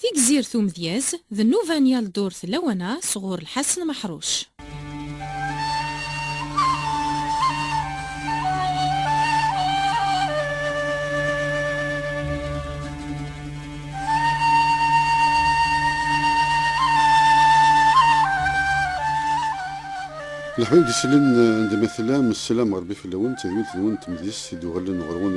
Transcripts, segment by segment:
Tigzirt umedyaz d nnuba n yal ddurt lawan-a sɣur Lḥasen Meḥruc. Leḥbab isellen n d ma tellam, sselam n Rebbi fell-awen, d tedwilt-nwen n tmedyezt i d-uɣalen ɣer-wen,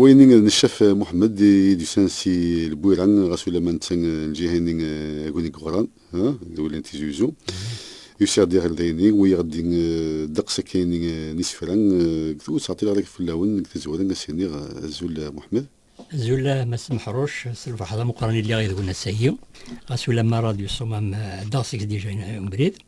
Wayen i d-neccef Muḥemmed i d-yusan si Lbuyra, ɣas ulamma netta n lǧiha-nni aguni deg Uɣran, d ul n Tizi Uzzu, yusa-ɣ-d iɣerday-nni, wiyaɣ-d ddeqs akkayen n yisefra deg twet Ɛeṭṭil Ɣriɣ fell-awen deg tazwara, a s-iniɣ azul a Muḥemmed. Azul a Mass Meḥruc, s lferḥ d ameqqran i lliɣ yid-wen ass-agi, ɣas ulamma rradyu ṣṣumam ɛeddaɣ seg-s dija ubrid.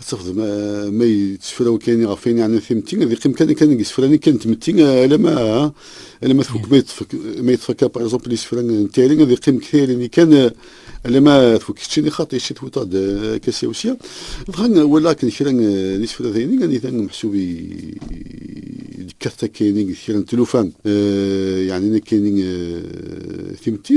Ad tafeḍ ma yettefra wakani ɣef wayen yeɛnan timetti, ad yeqqim kan kan deg isefra-nni kan n tmetti, alama alama tfukk ma yeṭṭef ma yeṭṭef akka par exemple isefra n tayri ad yeqqim deg tayri-nni kan alama tfukk keččini xaṭi ci twiṭ-d akka sya u sya. Dɣa walaɣ akken kra n isefra dayni anita meḥsub yekkat akkayni deg kra n tlufa yeɛnan akkayni timetti.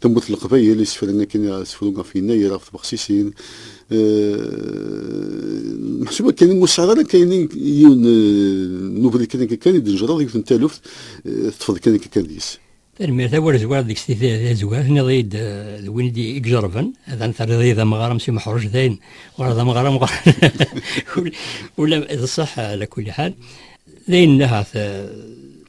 Tamurt n Leqbayel, isefra-nni akken i asefru ɣef Yennayer, ɣef tbexsisin, meḥsub akken ur sɛiḍ ara kan yiwen n ubrid kan akka kan i d-tnejreḍ yiwet n taluft, teṭṭfeḍ kan akka kan deg-s. Tanemmirt a wer zwiɣ deg-s tizwar, tenniḍ-iyi-d d win i ijerrben, ad terriḍ-iyi d amɣar am Si Meḥruj, dayen uɣaleɣ d amɣar amɣar, ula d ṣṣeḥ ala kulli ḥal, dayen ahat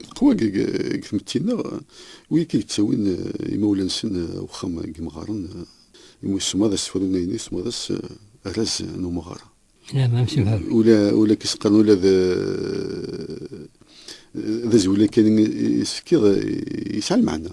Leqwa deg tmetti-nneɣ, wid akka yettawin imawlan-nsen wexxam n yimɣaren, imi ussemɣer d asefru n ayen yessemɣer-as arraz n umɣar. Ula akka i s-qqaren, ula d azwel-agi kan i s-fkiɣ yesɛa lmeɛna.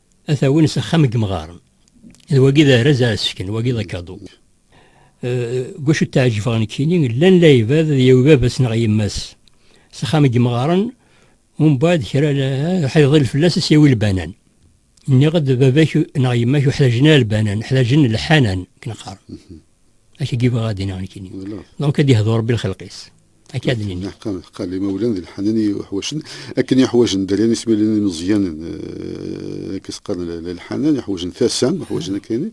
ad t-awin s axxam n yemɣaren. D wagi d arraz ara sken, wagi d akadu. Deg wacu ttaɛǧibeɣ nekkini, llan la ibad ad yawi baba-s neɣ yemma-s s axxam n yemɣaren, umbeɛd kra ḥed iḍil fell-as ad s-yawi lbanan. Nniɣ-d baba-k neɣ yemma-k ur ḥtaǧen ara lbanan, ḥtaǧen lḥanan, akken qqaren. Akka i bɣiɣ ad d-iniɣ nekkini. Donc ad yehdu Rebbi lxelq-is. Akka ad nini. Ḥeqqa, ḥeqqa, limawlan d lḥanen i uḥwacen, akken iḥwajen dderyan ismilen imeẓyanen, eh, akka s-qqaren lḥanen, iḥwajen tasa, iḥwajen akka ini.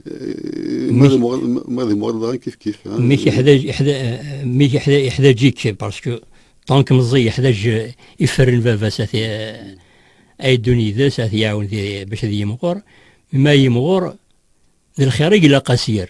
Eh, ma d muɣal- ma- ma d muɣal daɣen kif kif. ah, Mik iḥdaǧ, iḥda- eh, mik iḥda- iḥdaǧ-ik, parce que tant que meẓẓi iḥdaǧ eh, iferren baba-s ad eh, ad yeddun yid-s, ad t-iɛawen di- bac ad yimɣur, ma yimɣur d lxir i ilaq ad s-yerr.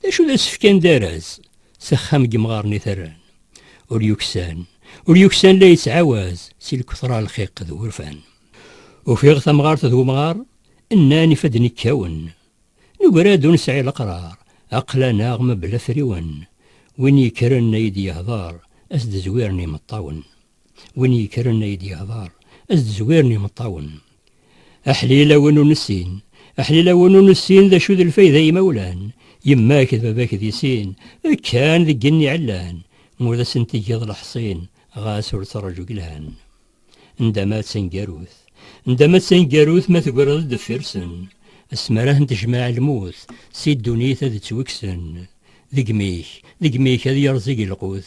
D acu d asefk anda araz, s axxam n yemɣaren i terran. Ur yuksan, ur yuksan la yettɛawaz, si lkutra lxiq d wurfan. Ufiɣ tamɣart d wemɣar, nnan ifadden ikkawen. Nugra-d ur nesɛi leqrar, aql-aneɣ mebla afriwen. Win yekkren a yi-d-yehder, a s-d-zwiren imeṭṭawen. Win yekkren ay d-yehḍer, ad d-zwiren imeṭṭawen. Aḥlil a win ur nessin, aḥlil a win ur nessin, d acu d lfayda a imawlan, yemma-k d baba-k di sin, kkan deg igenni ɛellan, ma ur asen-tgeḍ leḥṣin, ɣas ur ttraǧu gelhan. Ndama d taneggarut, ndama d taneggarut ma tegreḍ-d deffir-sen, asmi ara ten-tejmeɛ lmut, si ddunit ad ttwekksen. Deg imi-k, deg imi-k ad yerẓ igelqut,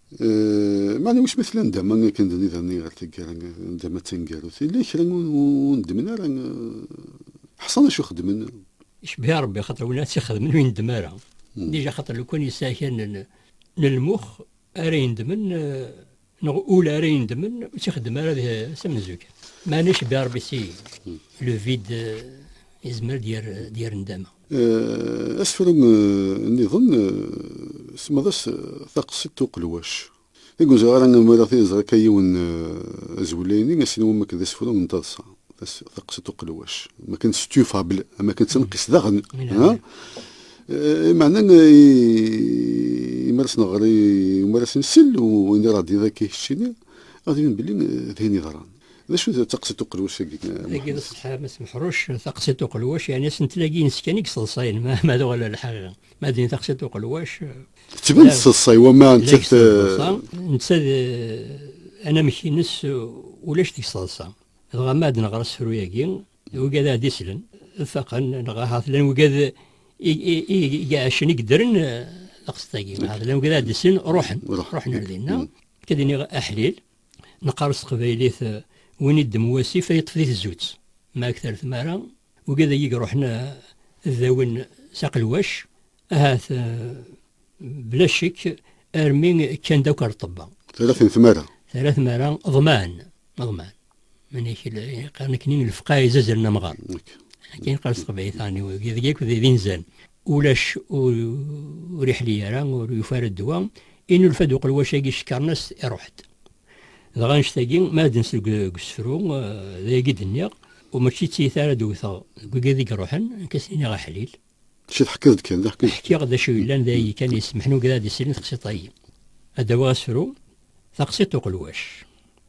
Maɛna wiss ma tella ndama akken d niḍerni ɣer taggara, ndama tangarut, yella kra ur nedmen ara, ḥṣan acu xedmen. Icebbiha Ṛebbi axaṭer win ara tt-ixedmen ur yendem ara. Dija axaṭer lukan yesɛa kra n lmux ara yendmen neɣ ul ara yendmen ur tt-ixeddem ara s amenzu-k. Maɛna icebbiha Ṛebbi si le vide yezmer ad d-yerr ndama. Asefru nniḍen semmaḍ-as Taqsiḍt n Uqelwac. Deg ur ẓriɣ ara ma ara t-iẓer akka yiwen azwel-ayni, ass-nni wamma akken d asefru n taḍsa, Taqsiḍt n Uqelwac, am akken d studio fable, am akken d tanqist daɣen, ha? Imeɛna i mi ara s-nɣer, i mi ara s-nsel, u i mi ara ɣ-d-yiniḍ akka keččini, ɣ-d-yinin belli d ayen yeḍran. D acu d taqsiṭ uqelwac agi? Agi d ṣṣeḥ Mass Meḥruc, taqsiṭ uqelwac yeɛni asentel-agi ines kan i yeṣṣeḍṣayen ma d wala lḥal ma din taqsiṭ uqelwac. Tettban teṣṣeḍṣay wama nettat. Netta d anamek-ines ulac deg ṣṣeḍṣa. Dɣa ma ad neɣer asefru-agi d wigad ara d-islen ad faqen neɣ ahat llan wigad i iɛecen i yeddren taqsiṭ-agi ahat llan wigad ara d-islen ruḥen ruḥen ar dinna akka d-iniɣ aḥlil. Neqqar s teqbaylit win iddem wasif a yeṭṭef di tezzutt. Ma akter tmara, wigi dagi iruḥen ad dawin s aqelwac, ahat bla ccek armi kkan-d akk ar ṭṭebba. Terra-ten tmara. Terra tmara, ḍman, ḍman. Manek qqaren akkenni lefqeɛ izazren amɣar. Akken qqaren s teqbaylit, ɛni wigi dagi akk d inzan. Ulac ur iḥli ara, ur yufi ara ddwa, inulfa-d uqelwac-agi cekkren-as-t, iruḥ-d. Dɣa annect-agi, ma ad d-nsel deg usefru, d ayagi i d-nniɣ, u mačči d tiyita ara d-wwteɣ deg wigiḍ i iruḥen, ad k-as-iniɣ aḥlil. Mačči teḥkiḍ-d kan, d aḥkil. Ḥkiɣ-d d acu yellan, d ayagi kan i yessemḥen ugrad i srin taqsiṭ-agi. Ad d-awiɣ asefru, Taqsiṭ n uqelwac.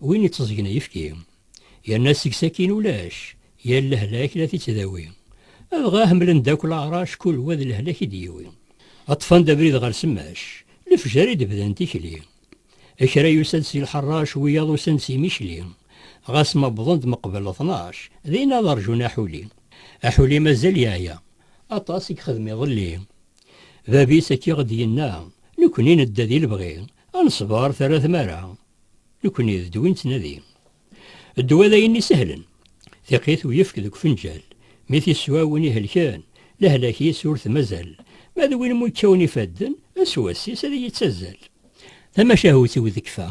Win itteẓgen ayefki. Yerna seg-s akin ulac. Yal lehlak la t-ittdawi. Adɣa ḥemmlen-d akk leɛrac. Kul wa d lehlak i d-yiwi. Ṭṭfan-d abrid ɣer semmac. Lefjer i d-bdan tikli. Kra yusa-d si lḥerrac. Wiyaḍ usan-d si Micli. Ɣas ma wwḍen-d meqbel ṭnac. Din ad rjun aḥuli. Aḥuli mazal yeɛya. Aṭas i yexdem iḍelli. Bab-is akka i ɣ-d-yenna. Nekni nedda di lebɣi. Ad nesber terra tmara. Nekni d ddwa i nettnadi. Ddwa d ayen isehlen. Tiqit ur yefk deg ufenǧal. Mi t-iswa win ihelken, lehlak-is ur t-mazal. Ma d win mucawen ifadden, ass wass-is ad iyi-ttazzal. Tamacahut-iw tekfa,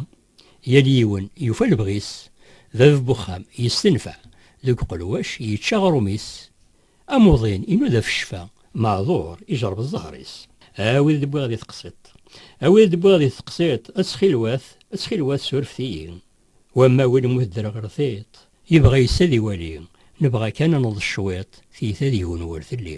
yal yiwen yufa lebɣi-s. Bab n uxxam yestenfeɛ, deg uqelwac yečča aɣrum-is. Amuḍin, inuda f ccfa, maɛduṛ, ijeṛṛeb ẓẓher-is. A wid i d-wwiɣ di teqsiṭ, a wid i d-wwiɣ di teqsiṭ, ttxilwat, ttxilwat surfet-iyi. Wamma win immut ddreɣ ɣer tiṭ, yebɣa yes ad iwali, nebɣa kan ad neḍs cwiṭ, tiyta deg-wen ur telli.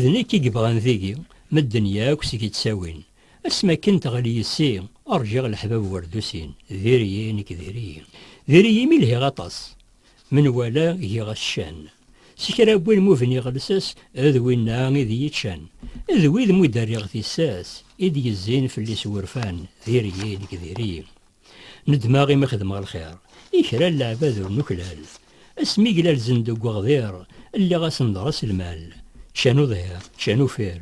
D nekk i yebɣan tigi, medden yakk seg-i ttawin. Asmi akken teɣli yis-i, rǧiɣ leḥbab war dusin. Diri-yi, nekk diri-yi. Diri-yi imi lhiɣ aṭas. Menwala giɣ-as ccan. S kra wwin mu bniɣ lsas, d winna i d iyi-ččan. D wid mu d-rriɣ tissas, i d-yezzin fell-i s wurfan. Diri-yi, nekk diri-yi. Nedmeɣ imi xedmeɣ lxir i kra n leɛbad ur nuklal. Asmi glalzen deg uɣdir, lliɣ asen-ḍres lmal. Ččan uḍhir, ččan ufir.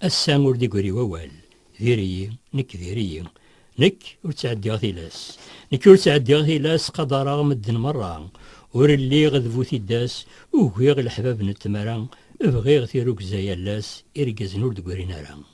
Ass-a ur d-igri wawal. Diri-yi, nekk diri-yi. Nekk ur ttɛeddiɣ tilas. Nekk ur ttɛeddiɣ tilas, qadareɣ medden merra. Ur lliɣ d bu tiddas, ugiɣ leḥbab n tmara, bɣiɣ tirugza yal ass, irgazen ur d-grin ara.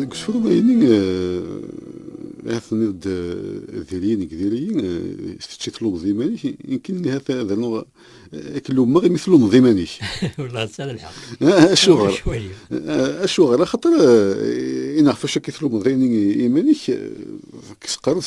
Deg usfurway-nni ahat tenniḍ-d diri nekk diri, kečč i tlummeḍ iman-ik, nekk nni ahat ad rnuɣ ad k-lummeɣ imi tlummeḍ iman-ik. Welleh tesɛiḍ lḥeqq. Acuɣer? Acuɣer? Axaṭer i neɣ ɣef wacu akka i tlummeḍ iman-ik, teqqareḍ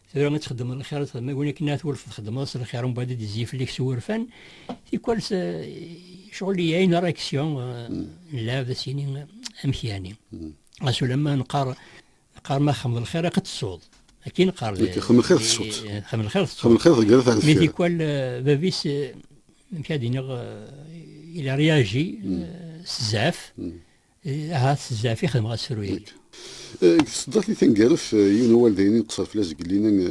Tebɣiḍ ad txeddmeḍ lxir, txeddmeḍ win akken ad twulfeḍ txeddmeḍ s lxir, mbaɛd ad d-izzi fell-ak s wurfan. Tikwal ccɣel i une réaction nella ad as-yini amek yani. Ɣas ulamma nqar nqar ma xemed lxir aqed tsuḍ. Akin nqar. Xemed lxir tsuḍ. Xemed lxir tsuḍ. Xemed lxir tegreḍ ar deffir. Mi tikwal bab-is amek ad iniɣ il a réagi s zzɛaf. Eh, ahat zɛaf i xedmeɣ asefru-agi. Eh, deg tseddart-nni taneggareft, eh, yiwen n awal d ayen i nqesser fell-as deg yelli-nni,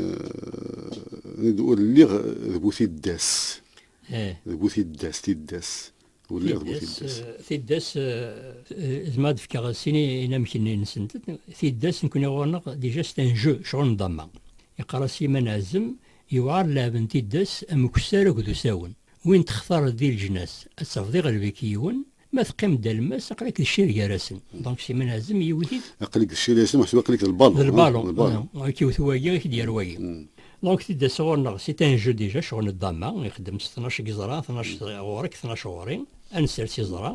ur lliɣ d bu tiddas. D bu tiddas, tiddas. Ur lliɣ d bu tiddas. Tiddas, d ma d-fkeɣ sin inamek-nni nsent. Tiddas, nekkni ɣur-neɣ, déjà c'est un jeu, ccɣel n damma. Yeqqar-as Yiman Azem, yewɛer lɛeb n tiddas am ukessar akked usawen. Win textareḍ di leǧnas, ad tafeḍ iɣleb-ik yiwen, Ma teqqim-d alemmas, aql-ak d ccir gar-asen. Donc si min azem yiwet-it. Aql-ik d ccir gar-asen, meḥsub aql-ik d lbalon. D lbalon. Ad k-iwet wagi, ad k-d-yerr wagi. Donc tidda sɣur-neɣ, c'est un jeu déjà, ccɣel n ddama, ixeddem s tnac n yiẓra, tnac ɣur-k, tnac ɣur-i, ad nsers iẓra,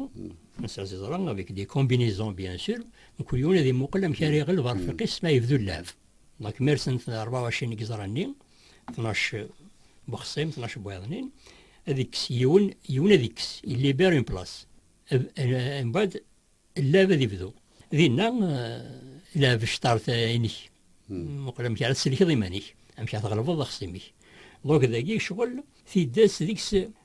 ad nsers iẓra avec des combinaisons bien sûr, mkul yiwen ad imuqel amek ara iɣleb arfiq-is, ma yebdu llɛeb. Donc mi rsen-t ṛebɛa u ɛecrin n yiẓra-nni, 12 bexṣim 12 bwayaḍnin ad ikkes yiwen yiwen ad ikkes illiber une place mbaɛd llab ad ibdu dinna lab ctart inek muqel amek ara tselkeḍ iman-ik amek ara tɣelbeḍ axṣim-ik donc dagi ccɣel tiddas deg-s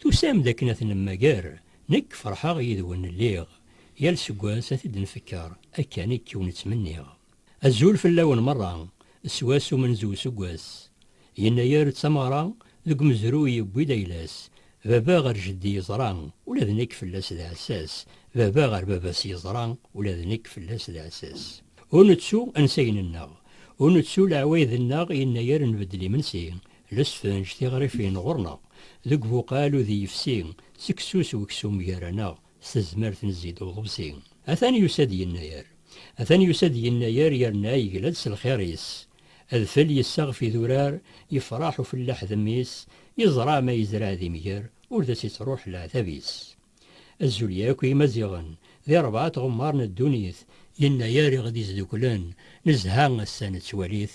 Tusam-d akken ad t-nemmager? Nekk ferḥeɣ yid-wen lliɣ, yal seg wass ad t-id-nfekker, akka nekk ur nettmenniɣ. Azul fell-awen merra, s wass umenzu useggas, yennayer d tameɣra, deg umezruy yewwi-d ayla-s, baba ɣer jeddi yeẓra, ula d nekk fell-as d aɛessas, baba ɣer baba-s yeẓra, ula d nekk fell-as d aɛessas. Ur nettu ansayen-nneɣ, ur nettu leɛwayed-nneɣ yennayer nbeddel imensi, Nesfenǧ tiɣrifin ɣur-neɣ deg buqal udi yefsi, seksu s weksum gar-aneɣ, s tezmert nezzi-d uḍebsi. Atan yusa-d yennayer, atan yusa-d yennayer yerna yegla-d s lxir-is. Adfel yessaɣef idurar, yefraḥ ufellaḥ d mmi-s, yeẓra ma yezreɛ d imger ur d as-ittruḥ leɛtab-is. Azul yakk i Yimaziɣen, di rebɛa tɣemmar n ddunit. Yennayer i ɣ-d-izdukklen, nezha ass-a nettwali-t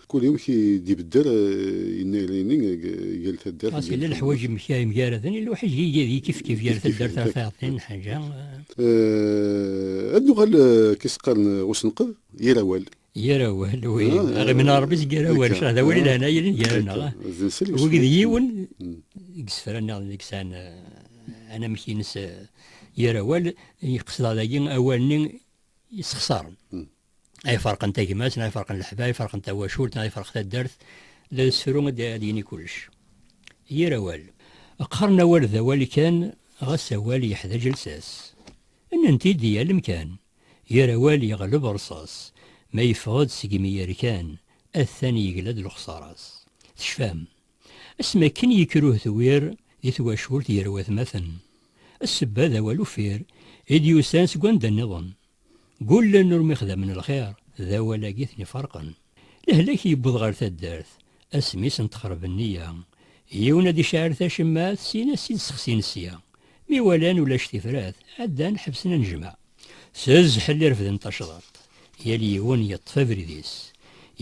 Kul yiwen ki d-ibedder yennayer ini deg yal taddart. Ɣas yella leḥwaǧ yemgaraden, yella uḥiǧ i yifkif gar taddart ɣer tɛeḍḍin n Ḥaǧa. Ad nuɣal akka i s-qqaren usenqed, yir awal. Yir awal, wi, aɣimen n Rebbi seg yir awal, ccṛeɛ d awal i lehna yellan gar-aneɣ. Wagi d yiwen deg isefra nniḍen i yesɛan anamek-ines yir awal, i qesdeɣ dagi awal-nni yessexṣaren. ay ferqen tagmat neɣ ay ferqen leḥbab ay ferqen tawacult neɣ ay ferq taddart la yessefru ad d-yini kullec yir awal qqaren awal d awal kan ɣas awal yeḥdaǧ lsas nnant-id di yal amkan yir awal yeɣleb rṣas ma yeffeɣ-d seg imi yerkan atan yegla-d lexṣara-s tecfam Asmi akken yekker uhdewwir di twacult gar watmaten. Ssebba d awal uffir i d-yusan seg wanda nniḍen. Ggullen ur mixdamen lxir, d awal-agi i ten-iferqen. Lehlak yewweḍ ɣer taddart, asmi i sen-texreb nniya. Yiwen ad iceɛɛel tacemmaɛt, sin ad s-id-sexsin sya. Mi walan ulac tifrat, ɛeddan ḥebsen anejmaɛ. S zzḥel i refden tacḍaṭ. Yal yiwen yeṭṭef abrid-is.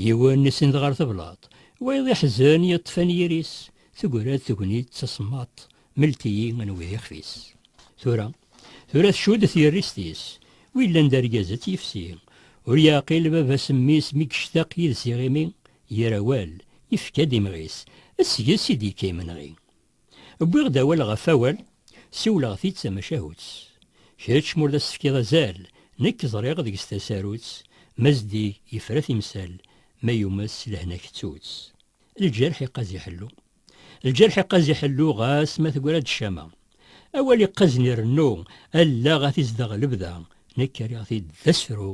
Yiwen isend ɣer teblaṭ. Wayeḍ iḥzen yeṭṭef anyir-is. Teggra-d tegnit d tasemmaṭ. Mlet-iyi anwa i d ixef-is. Tura, tura tcudd tyerrist-is. Wi yellan d argaz ad t-yefsi. Ur yeɛqil baba-s mmi-s mi yectaq yid-s iɣimi. Ger awal, yefka-d imɣi-s. Seg-s i d-yekka yimenɣi. Wwiɣ-d awal ɣef awal, siwleɣ-t-id d tamacahut. Kečč m'ur d as-tefkiḍ azal, nekk ẓriɣ deg-s tasarut, ma zeddig yefra timsal, ma yumes s lehna kettu-tt. Lǧerḥ iqqaz iḥellu. Lǧerḥ iqqaz iḥellu ɣas ma tegra-d ccama. Awal iqqazen irennu, allaɣ ad t-izdeɣ lebda, nekk rriɣ-t-id d asefru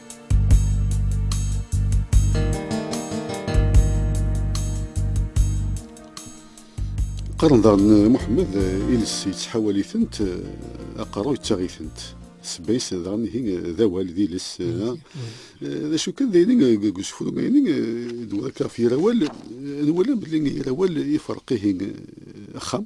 qqaren daɣen Muḥemmed iles yettḥawal-itent aqerru yettaɣ-itent sebbayes daɣen ihi d awal d iles d acu kan dayni deg usefru dayni d wuraka ɣef yirawal nwala belli yirawal ifreq ihi axxam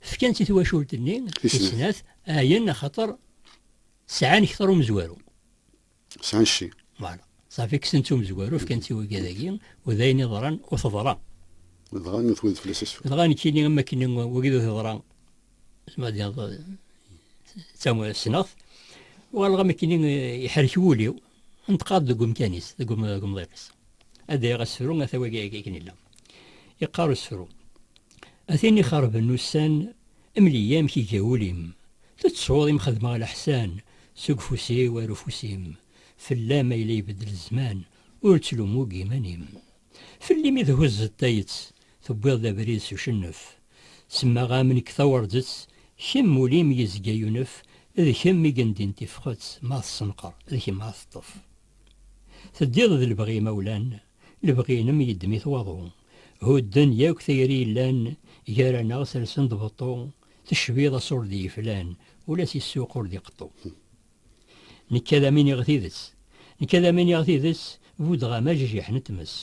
Fkan-tt i twacult-nni tis snat, ɛyan axaṭer sɛan kter umezwaru. Sɛan cci. Voilà. Safi kksen-tt umezwaru, fkan-tt i wigad-agi, u d ayen iḍran u teḍra. Dɣa twed fell-as asfel. Dɣa nekkini am wakken wagi d u teḍra, zmer ad d-tiniḍ d tamu, ssneɣ-t, uɣaleɣ am wakken iḥerrek wul-iw, Neṭqeɣ-d deg umkan-is, deg umḍiq-is. Ad d-ayeɣ asefru ata wagi akken yella. Yeqqar usefru, A tin ixerben ussan, mel-iyi amek iga wul-im. Tettsuḍ i m-xedmeɣ leḥsan, seg ufus-iw ar ufus-im. Fell-am ay la ibeddel zzman, ur ttlumu deg yiman-im. Fell-i mi thuzzeḍ tayett, tewwiḍ-d abrid s ucennef. Semmaɣ-am nekk tawerǧett, kemm ul-im yezga yunef, d kemm i yendin tifxet ma tessenqer, d kemm ara teṭṭef. Teddiḍ d lebɣi imawlan, lebɣi-inem yeddem-it waḍu. Hudden yakk tayri yellan gar-aneɣ sersen-d beṭṭu, tecbiḍ aṣur d yiflan, ula si ssuq ur d iqeṭṭu. Nekk ad am iniɣ tidet. Nekk ad am iniɣ tidet, buddeɣ-am ajajiḥ n tmes.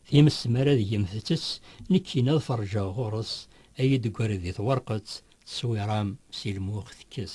Times mi ara deg-m tettes, nekkini ad ferǧeɣ ɣur-s, ad yi-d-teggari di twerqet, tteswiṛa-m si lmux tekkes.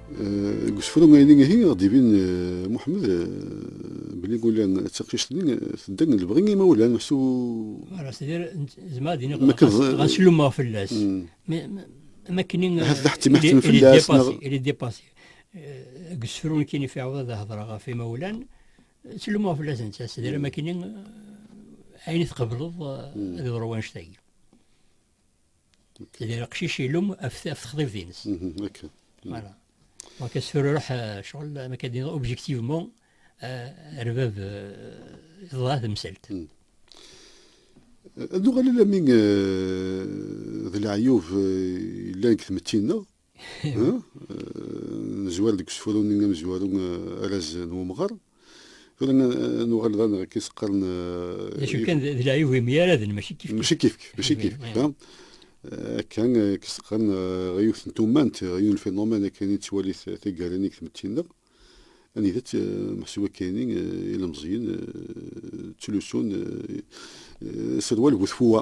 Deg usefru ayni ihi ɣ-d-ibin Muḥemmed belli Gulan d taqcict-nni tedda deg lebɣi n yimawlan s u. Ara s-tiniḍ zemreɣ ad iniɣ ɣas lummeɣ fell-as am akken il est dépassé deg usefru nekkini ɣef iɛawed ad hedreɣ ɣef imawlan ttlumeɣ fell-as netta s-tiniḍ am akken ayen i tqebleḍ ad yeḍru wannect-agi. d leqcic ilum af texḍibt-ines. Akken. Voilà. Donc asfel ruḥ ccɣel ma ka d-iniḍ objectivement rbab iḍeḍ-a temsalt. Ad nuɣal alami d leɛyub yellan deg tmetti-nneɣ. nezwar deg usefru-nni amezwaru araz n umɣar tura nuɣal d aneɣ akka iseqqaren d acu kan d leɛyub imyaraden mačči kif mačči kif mačči kif akka iseqqaren ɣer yiwet n tumant ɣer yiwen lfinuman akken i tettwali taggara-nni deg tmetti-nneɣ anida meḥsub akayni ilemẓiyen ttlusun serwal bu tfuwa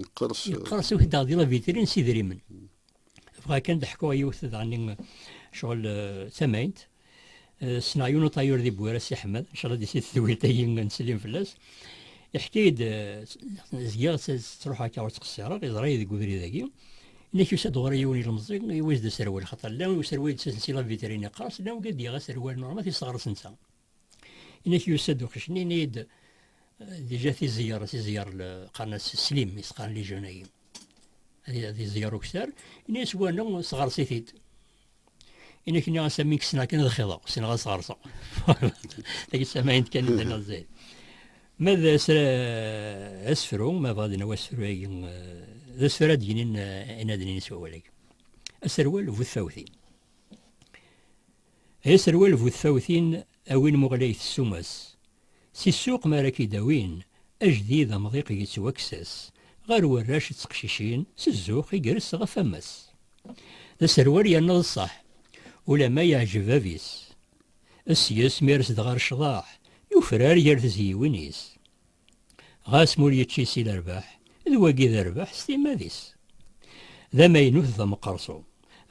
Yeqqers Yeqqers ukdeɣ di la vitrin s idrimen. Bɣa kan d ḥkuɣ yiwet daɣen ccɣel tamaynt. Ssneɣ yiwen uṭayur di Bwira Si Ḥmed, n cɣel di si tedwilt-agi nettsellim fell-as. Iḥka-yi-d zgiɣ ttruḥeɣ akka ur ttqessireɣ, iẓra-yi deg ubrid-agi. Nek yusa-d ɣur-i yiwen ilemẓi, iwis-d aserwal, xaṭer llan userwal yettasen si la vitrin iqqers, llan wigi d-yaɣ aserwal normal, tiseɣres netta. Inek yusa-d uqcic nini-d dija tizeyar tizeyar qqaren-as slim i s-qqaren lijun-agi ad iẓeyar uktar ini-as wana sɣers-it-id inek ni as amin kkesneɣ kan ad xiḍeɣ ssneɣ ad sɣerseɣ tagi samayen kan idan ad zayed ma d asefru ma bɣa dina wasefru-agi d asefru ad d-yinin inaden-ines wawal-agi aserwal bu tfawtin Ay aserwal bu tfawtin a win muɣlayet ssuma-s. Si ssuq mi ara k-id-awin ajdid amḍiq yettwakkes-as ɣer warrac d teqcicin s zzux igres ɣef wammas. D aserwal yerna d ṣṣeḥ ulamma yeɛjeb bab-is. Ssyes mi ara s-dɣer ccḍeḥ yufrar gar tezyiwin-is. Ɣas ma ur yečči si lerbaḥ, d wagi d rrbeḥ s timmad-is. D amaynut d ameqqerṣu.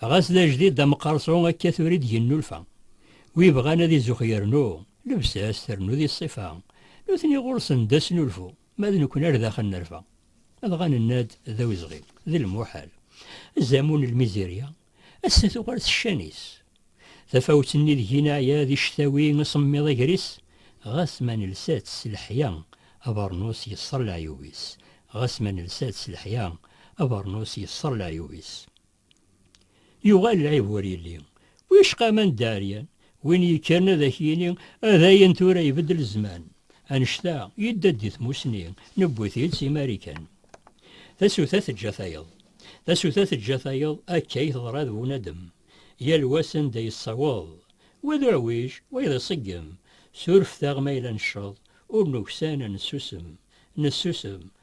Ɣas d ajdid d ameqqerṣu akka tura i d-yennulfa. Wi ibɣan ad izux yernu lebsa-s ternu di ṣṣifa. Nutni ɣur-sen d asnulfu, ma d nekni ar daxel nerfa. Dɣa nenna-d d awezɣi, d lmuḥal. Azamul n lmizirya, Ass-a tuɣal s ccan-is. Tafawet-nni deg-i neɛya di cctawi asemmiḍ agris, ɣas ma nelsa-tt s leḥya, abernus yesser leɛyub-is, ɣas ma nelsa-tt s leḥya, abernus yesser leɛyub-is. Yuɣal lɛib ur yelli. Wicqa ma nedda ɛeryan, Win yekkren ad ak-yini a dayen tura ibeddel zzman. Annect-a, yedda-d di tmussni, newwi-t-id si Marikan. Tasuta teǧǧa tayeḍ. Tasuta teǧǧa tayeḍ, akka i teḍra d bunadem. Yal wa s anda yessaweḍ. Wa d uɛwij, wayeḍ iṣeggem. Surfet-aɣ ma yella necceḍ, ur nuksan, nessusem. Nessusem,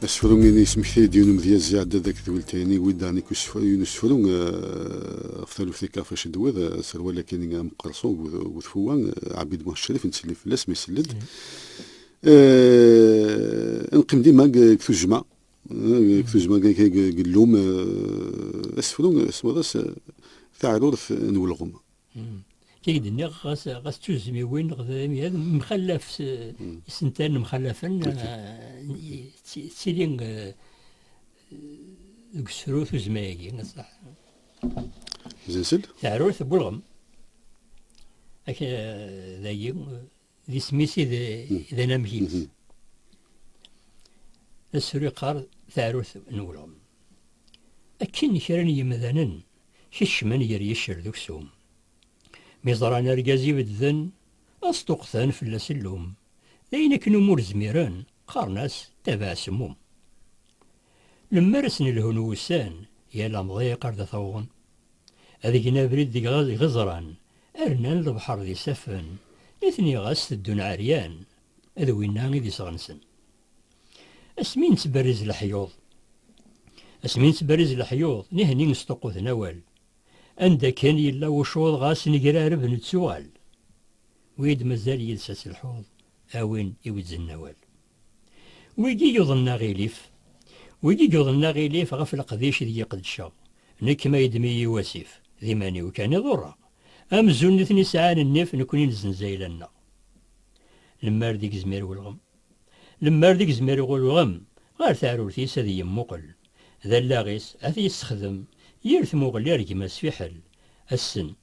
Asefru i d-yesmekta-yi-d yiwen umedyaz iɛedda-d akked weltay-nni i wid-a nekk yiwen usefru ɣef taluft akka ɣef acu d-tewwiḍ aserwal akk-agi ameqqerṣu deg utfewwa Ɛebid Muḥ Ccrif nettsellim fell-as ma isell-d ad neqqim dima deg tujjma deg tujjma deg llum asefru semmaḍ-as Taɛrurt n ulɣem Kayid nniɣ ɣas ɣas tuzmiwin neɣ imyad mxallaf isentan mxallafen ttili deg usefru tuzma-agi asaḥ. Zensel? Teɛrurt n ulɣem. Ak dagi D isem-is i d anamek-is. Asefru yeqqar taɛrurt n ulɣem. Akken kra n yemdanen kecmen ger yiccer d uksum. Mi ẓran argaz ibedden, ad sṭuqten fell-as llum. D ayen akken umi ur zmiren, qqaren-as tabaɛ semmum. Lemmer ad sen-lhun wussan, yal amḍiq ar d at-awḍen. Ad gen abrid deg yiɣeẓran, Rnan lebḥer d isaffen, nitni ɣas teddun ɛeryan, d winna i d iseɣ-nsen. Asmi nettberriz leḥyuḍ. Asmi nettberriz leḥyuḍ, nihni sṭuqquten awal. Anda akken yella uccuḍ ɣas negrareb nettuɣal. Wi d-mazal yid-s ad telḥuḍ, a win iwezznen awal. Wigi yuḍnen aɣilif, wigi yuḍnen aɣilif ɣef leqdic ideg i qedceɣ, nekk ma yeddem-iyi wasif, d iman-iw kan i ḍurreɣ, amzun nitni sɛan nnif nekni nezzenz ayla-nneɣ. Lemmer d igezmir ulɣem, lemmer d igezmir ulɣem ɣer teɛrurt-is ad iyi-yemmuqel, d allaɣ-is ad t-yessexdem yir tmuɣli ar gma-s fiḥel, assen.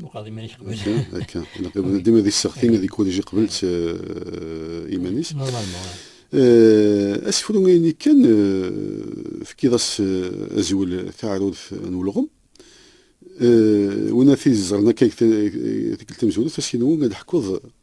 Muqad iman-ik qbel. Akka, dima di sseɣtin ad ikun ji qbel eh, iman-is. Eh, asefru ini kan eh, tefkiḍ-as azwel taɛrurt n ulɣem. Wina tiẓren akka tikkelt tamzulet, asinwu ad ḥkuḍ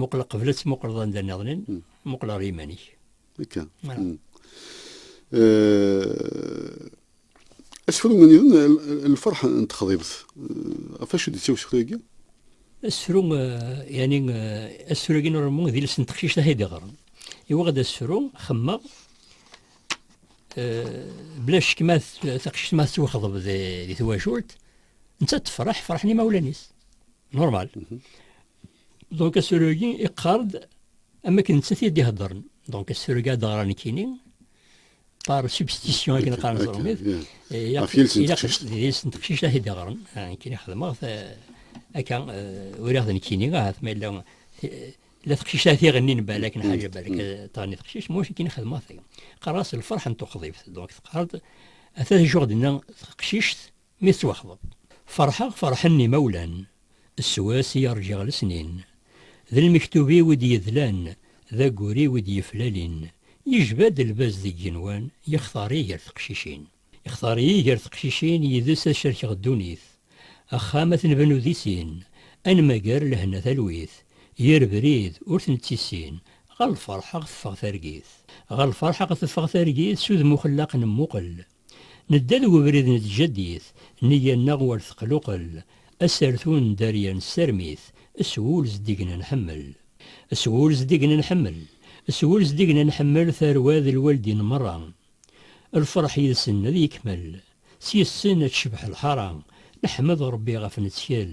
Muqel qbel ad tmuqleḍ anda nniḍen, muqel ɣer yiman-ik. Akka. Asefru nniḍen lferḥ n texḍibt, ɣef acu d-yettawi usefru-agi? Asefru, yani asefru-agi n uṛemmu d iles n teqcict ay d-iɣren. Iwaɣ ad asefru, xemmeɣ, bla ccek ma taqcict ma tettwaxḍeb di twacult, nettat tefreḥ, ferḥen imawlan-is. Normal. Donc asrugi iqqar-d am akken nettat i d-iheddren. Donc asrugi ad ɣran nekkini par substitution akken qqaren ẓermit. Ɣef yiles n teqcict. Yiles n teqcict ad t-id-ɣren. Nekkini xedmeɣ akka uriɣ d nekkini ahat ma yella la teqcict ad t-iɣennin balak nḥaǧa balak tɣenni teqcict muc nekkini xedmeɣ taga. Qqar-as lferḥ n tuqḍibt. Donc teqqar-d ata d ajuɣ d-nna teqcict Mi tettwaxḍeb, ferḥeɣ ferḥen imawlan, s wass i rǧiɣ lesnin. D lmektub-iw i d-yedlan, d aggur-iw i d-yeflalin. Yejba-d lbaz deg yigenwan, yextar-iyi gar teqcicin. Yextar-iyi gar teqcicin, yid-s ad cerkeɣ ddunit. Axxam ad t-nbennu di sin, ad nmager lehna talwit. Yir brid, ur t-nettissin, ɣer lferḥ a ɣ-teffeɣ targit. Ɣer lferḥ a ɣ-teffeɣ targit, s udem uxellaq nemmuqel. Nedda deg ubrid n tjaddit, neyya-nneɣ war teqluqel, asertu n dderya nesserm-it, s wul zeddigen ad nḥemmel. S wul zeddigen ad nḥemmel, s wul zeddigen ad nḥemmel tarwa d lwaldin merra. Lferḥ yid-sen ad yekmel, s yes-sen ad tecbeḥ lḥara, neḥmed Rebbi ɣef nettkel,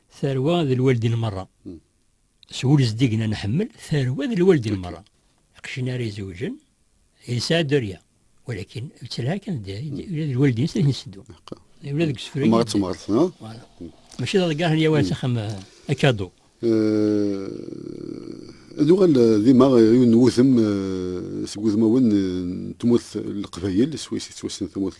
Tarwa d lwaldin merra. S wul zeddigen ad nḥemmel, tarwa d lwaldin merra. Iqcin ara izewjen, yesɛa dderya. Walakin, yettelha kan dderya, ula d lwaldin s akken iseddu. Ula deg usefru. Tmart tmart, no? Voilà. Mačči d aḍeggar n yawal s axxam akadu. Ad uɣal dima yiwen n wudem seg wudmawen n tmurt n Leqbayel, swayes i tettwassen tmurt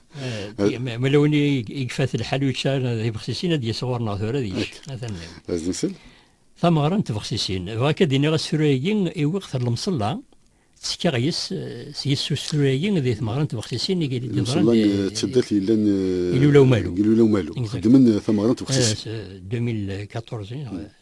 Eh, ma lawen i ifat lḥal ur yeččar d ibexsisin ad d-yas ɣur-neɣ tura ad yečč. Ad nsel. Tameɣra n tbexsisin. Bɣa akka d-iniɣ asefru-agi i wiqet n lemṣella ttekkaɣ yes s yes usefru-agi di tmeɣra n tbexsisin i d-iḍran. Lemṣella n tseddart yellan eh, Ilula Umalu. Ilula Umalu. Xeddmen eh, tameɣra n tbexsisin. 2014.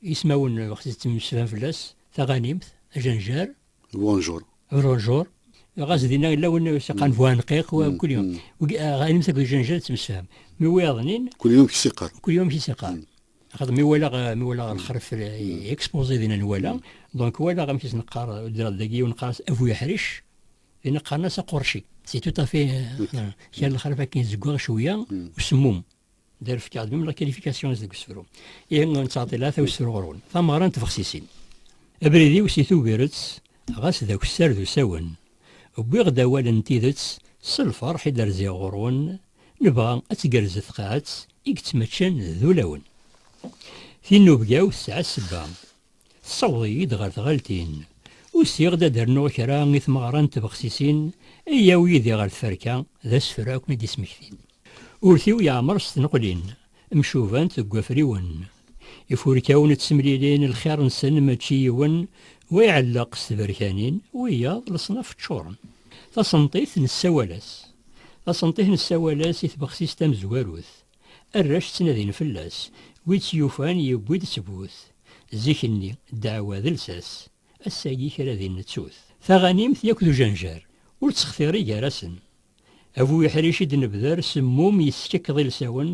Ismawen waqt i ţţemmeslayen fell-as, taɣanimt, ajenjar. Bonjour. Bonjour. Ɣas dinna yella win i s-iqqaren buɛenqiq, wa mkul yum. Taɣanimt akked ujenjar ţţemsefham. Mi wiyaḍ-nnin. Kul yum amek i s-iqqar. Kul yum amek i s-iqqar. Axaṭer mi walaɣ, mi walaɣ lexref, exposé dinna nwala, donc walaɣ amek i s-neqqar ddreḍ dagi, yiwen neqqar-as Abu Yeḥric, dinna qqaren-as Aqurci. C'est tout à fait, kra n lexref akken i zeggaɣ cwiya, usemmum. Dar fkeɣ-d mim la qualifications deg usefru. Ihi nettɛeḍḍil ata usefru ɣer-wen. Tameɣra n tbexsisin. Abrid-iw si Tubiret, ɣas d akessar d usawen, wwiɣ-d awal n tidet s lferḥ i d-rziɣ ɣur-wen, nebɣa ad tgerrez tqaɛet i yettmaččan d ulawen. Tinnubga-w tesɛa ssebba, Tessawḍeḍ-iyi-d ɣer tɣaltin. Usiɣ-d ad d-rnuɣ kra i tmeɣra n tbexsisin ay yawi yid-i ɣer tferka, d asefru akk i d-yesmektin. Urti-w yeɛmer s tneqlin, mcubant deg wafriwen. Ifurkawen ttemlilin, lxir-nsen mačči yiwen, wa iɛelleq s tberkanin, wiyaḍ leṣnaf ččuren. Tasenṭit nessawal-as. Tasenṭit nessawal-as i tbexsist tamezwarut. Arrac ttnadin fell-as, wi tt-yufan yewwi-d ttbut. Zik-nni, ddeɛwa d lsas, ass-agi kra din nettu-t. Taɣanimt yak d ujenjar, ur ttextiri gar-asen. A bu iḥric i d-nebder semmum yeskekeḍ ilsawen,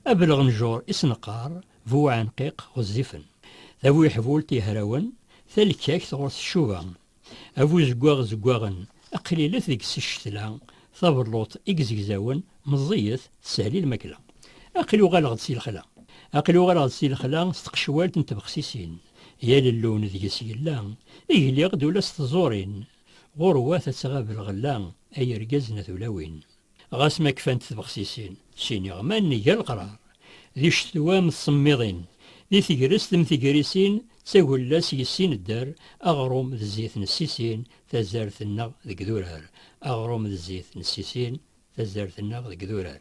a bu lɣenjur i s-neqqar, bu uɛenqiq ɣezzifen. Tabuyeḥbult yehrawen, talkakt ɣur-s tcuba. A bu zeggaɣ zeggaɣen, a qlilet deg-s ccetla, tabelluḍt i izegzawen meẓẓiyet, teshel i lmakla. Aql-i uɣaleɣ-d si lexla. Aql-i uɣaleɣ-d si lexla s tqecwalt n tbexsisin, yal llun deg-s yella, i gliɣ-d ula s tẓurin, ɣur-wat ad tɣab lɣella, ay irgazen a tulawin. Ɣas ma kfant tbexsisin, ttiniɣ ma nga leqrar, di ccetwa m tsemmiḍin, di tegrest m tegrisin, d tagella s yessi nedder, aɣrum d zzit nessisin, tazart nneɣ deg durar, aɣrum d zzit nessisin, tazart nneɣ deg durar.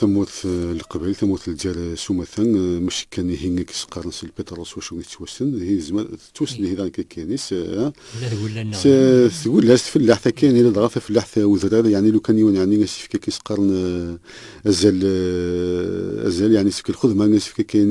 tamurt eh, leqbayel tamurt lǧar eh, s umata eh, maci kan ihi i yesqaren s lpiṭrul s wacu yettwassen ihi yezmer tettwassen ihi dɣa kakkanis s tgullast fellaḥt akkin ila dɣa tafellaḥt udrar yani lu kan yiwen yani asifk akka yesqaren azal azal yani sifk lxedma asifk akkin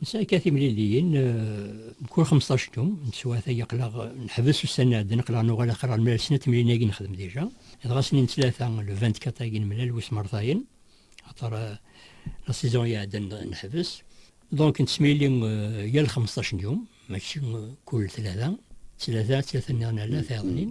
Nesɛa akka timliliyin mkul xemseṭṭac n yum, n teswiɛt agi aqlaɣ neḥbes ussan iɛeddan aqlaɣ nuɣal axir ar mlal snat temliliyin agi nexdem dija, dɣa snin n tlata le vingt-quatre agi nemlal wis mertayen axaṭer la saison iɛeddan neḥbes donc nettemlili yal xemseṭṭac n yum mačči kul tlata, tlata, tlata nniḍen ala tayeḍnin.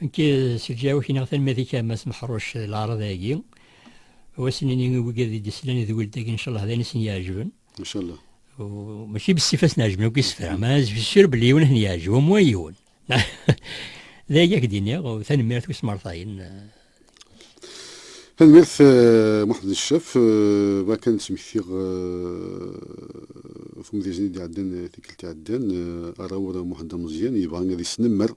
Nekk s lǧawi-k neɣ tanmad-ik a Mass Meḥruc d laɛraḍ-agi wassen-nni i wigad i d-islan d weld-agi ncallah d ayen i sen-yeɛjeben. Ncallah. Mačči bess i fasen ɛejben akk isefra, ma azef sur belli yiwen a ten-yeɛjeb, au moins yiwen. D agi a k-d-iniɣ, tanemmirt i usmarṭayen. Tanemmirt a Muḥmed Ncaf, bɣiɣ kan ad d-smektiɣ tumedyazt-nni i d-iɛeddan tikkelt iɛeddan, arawur Muḥend Ameẓyan yebɣa ad yesnemmer.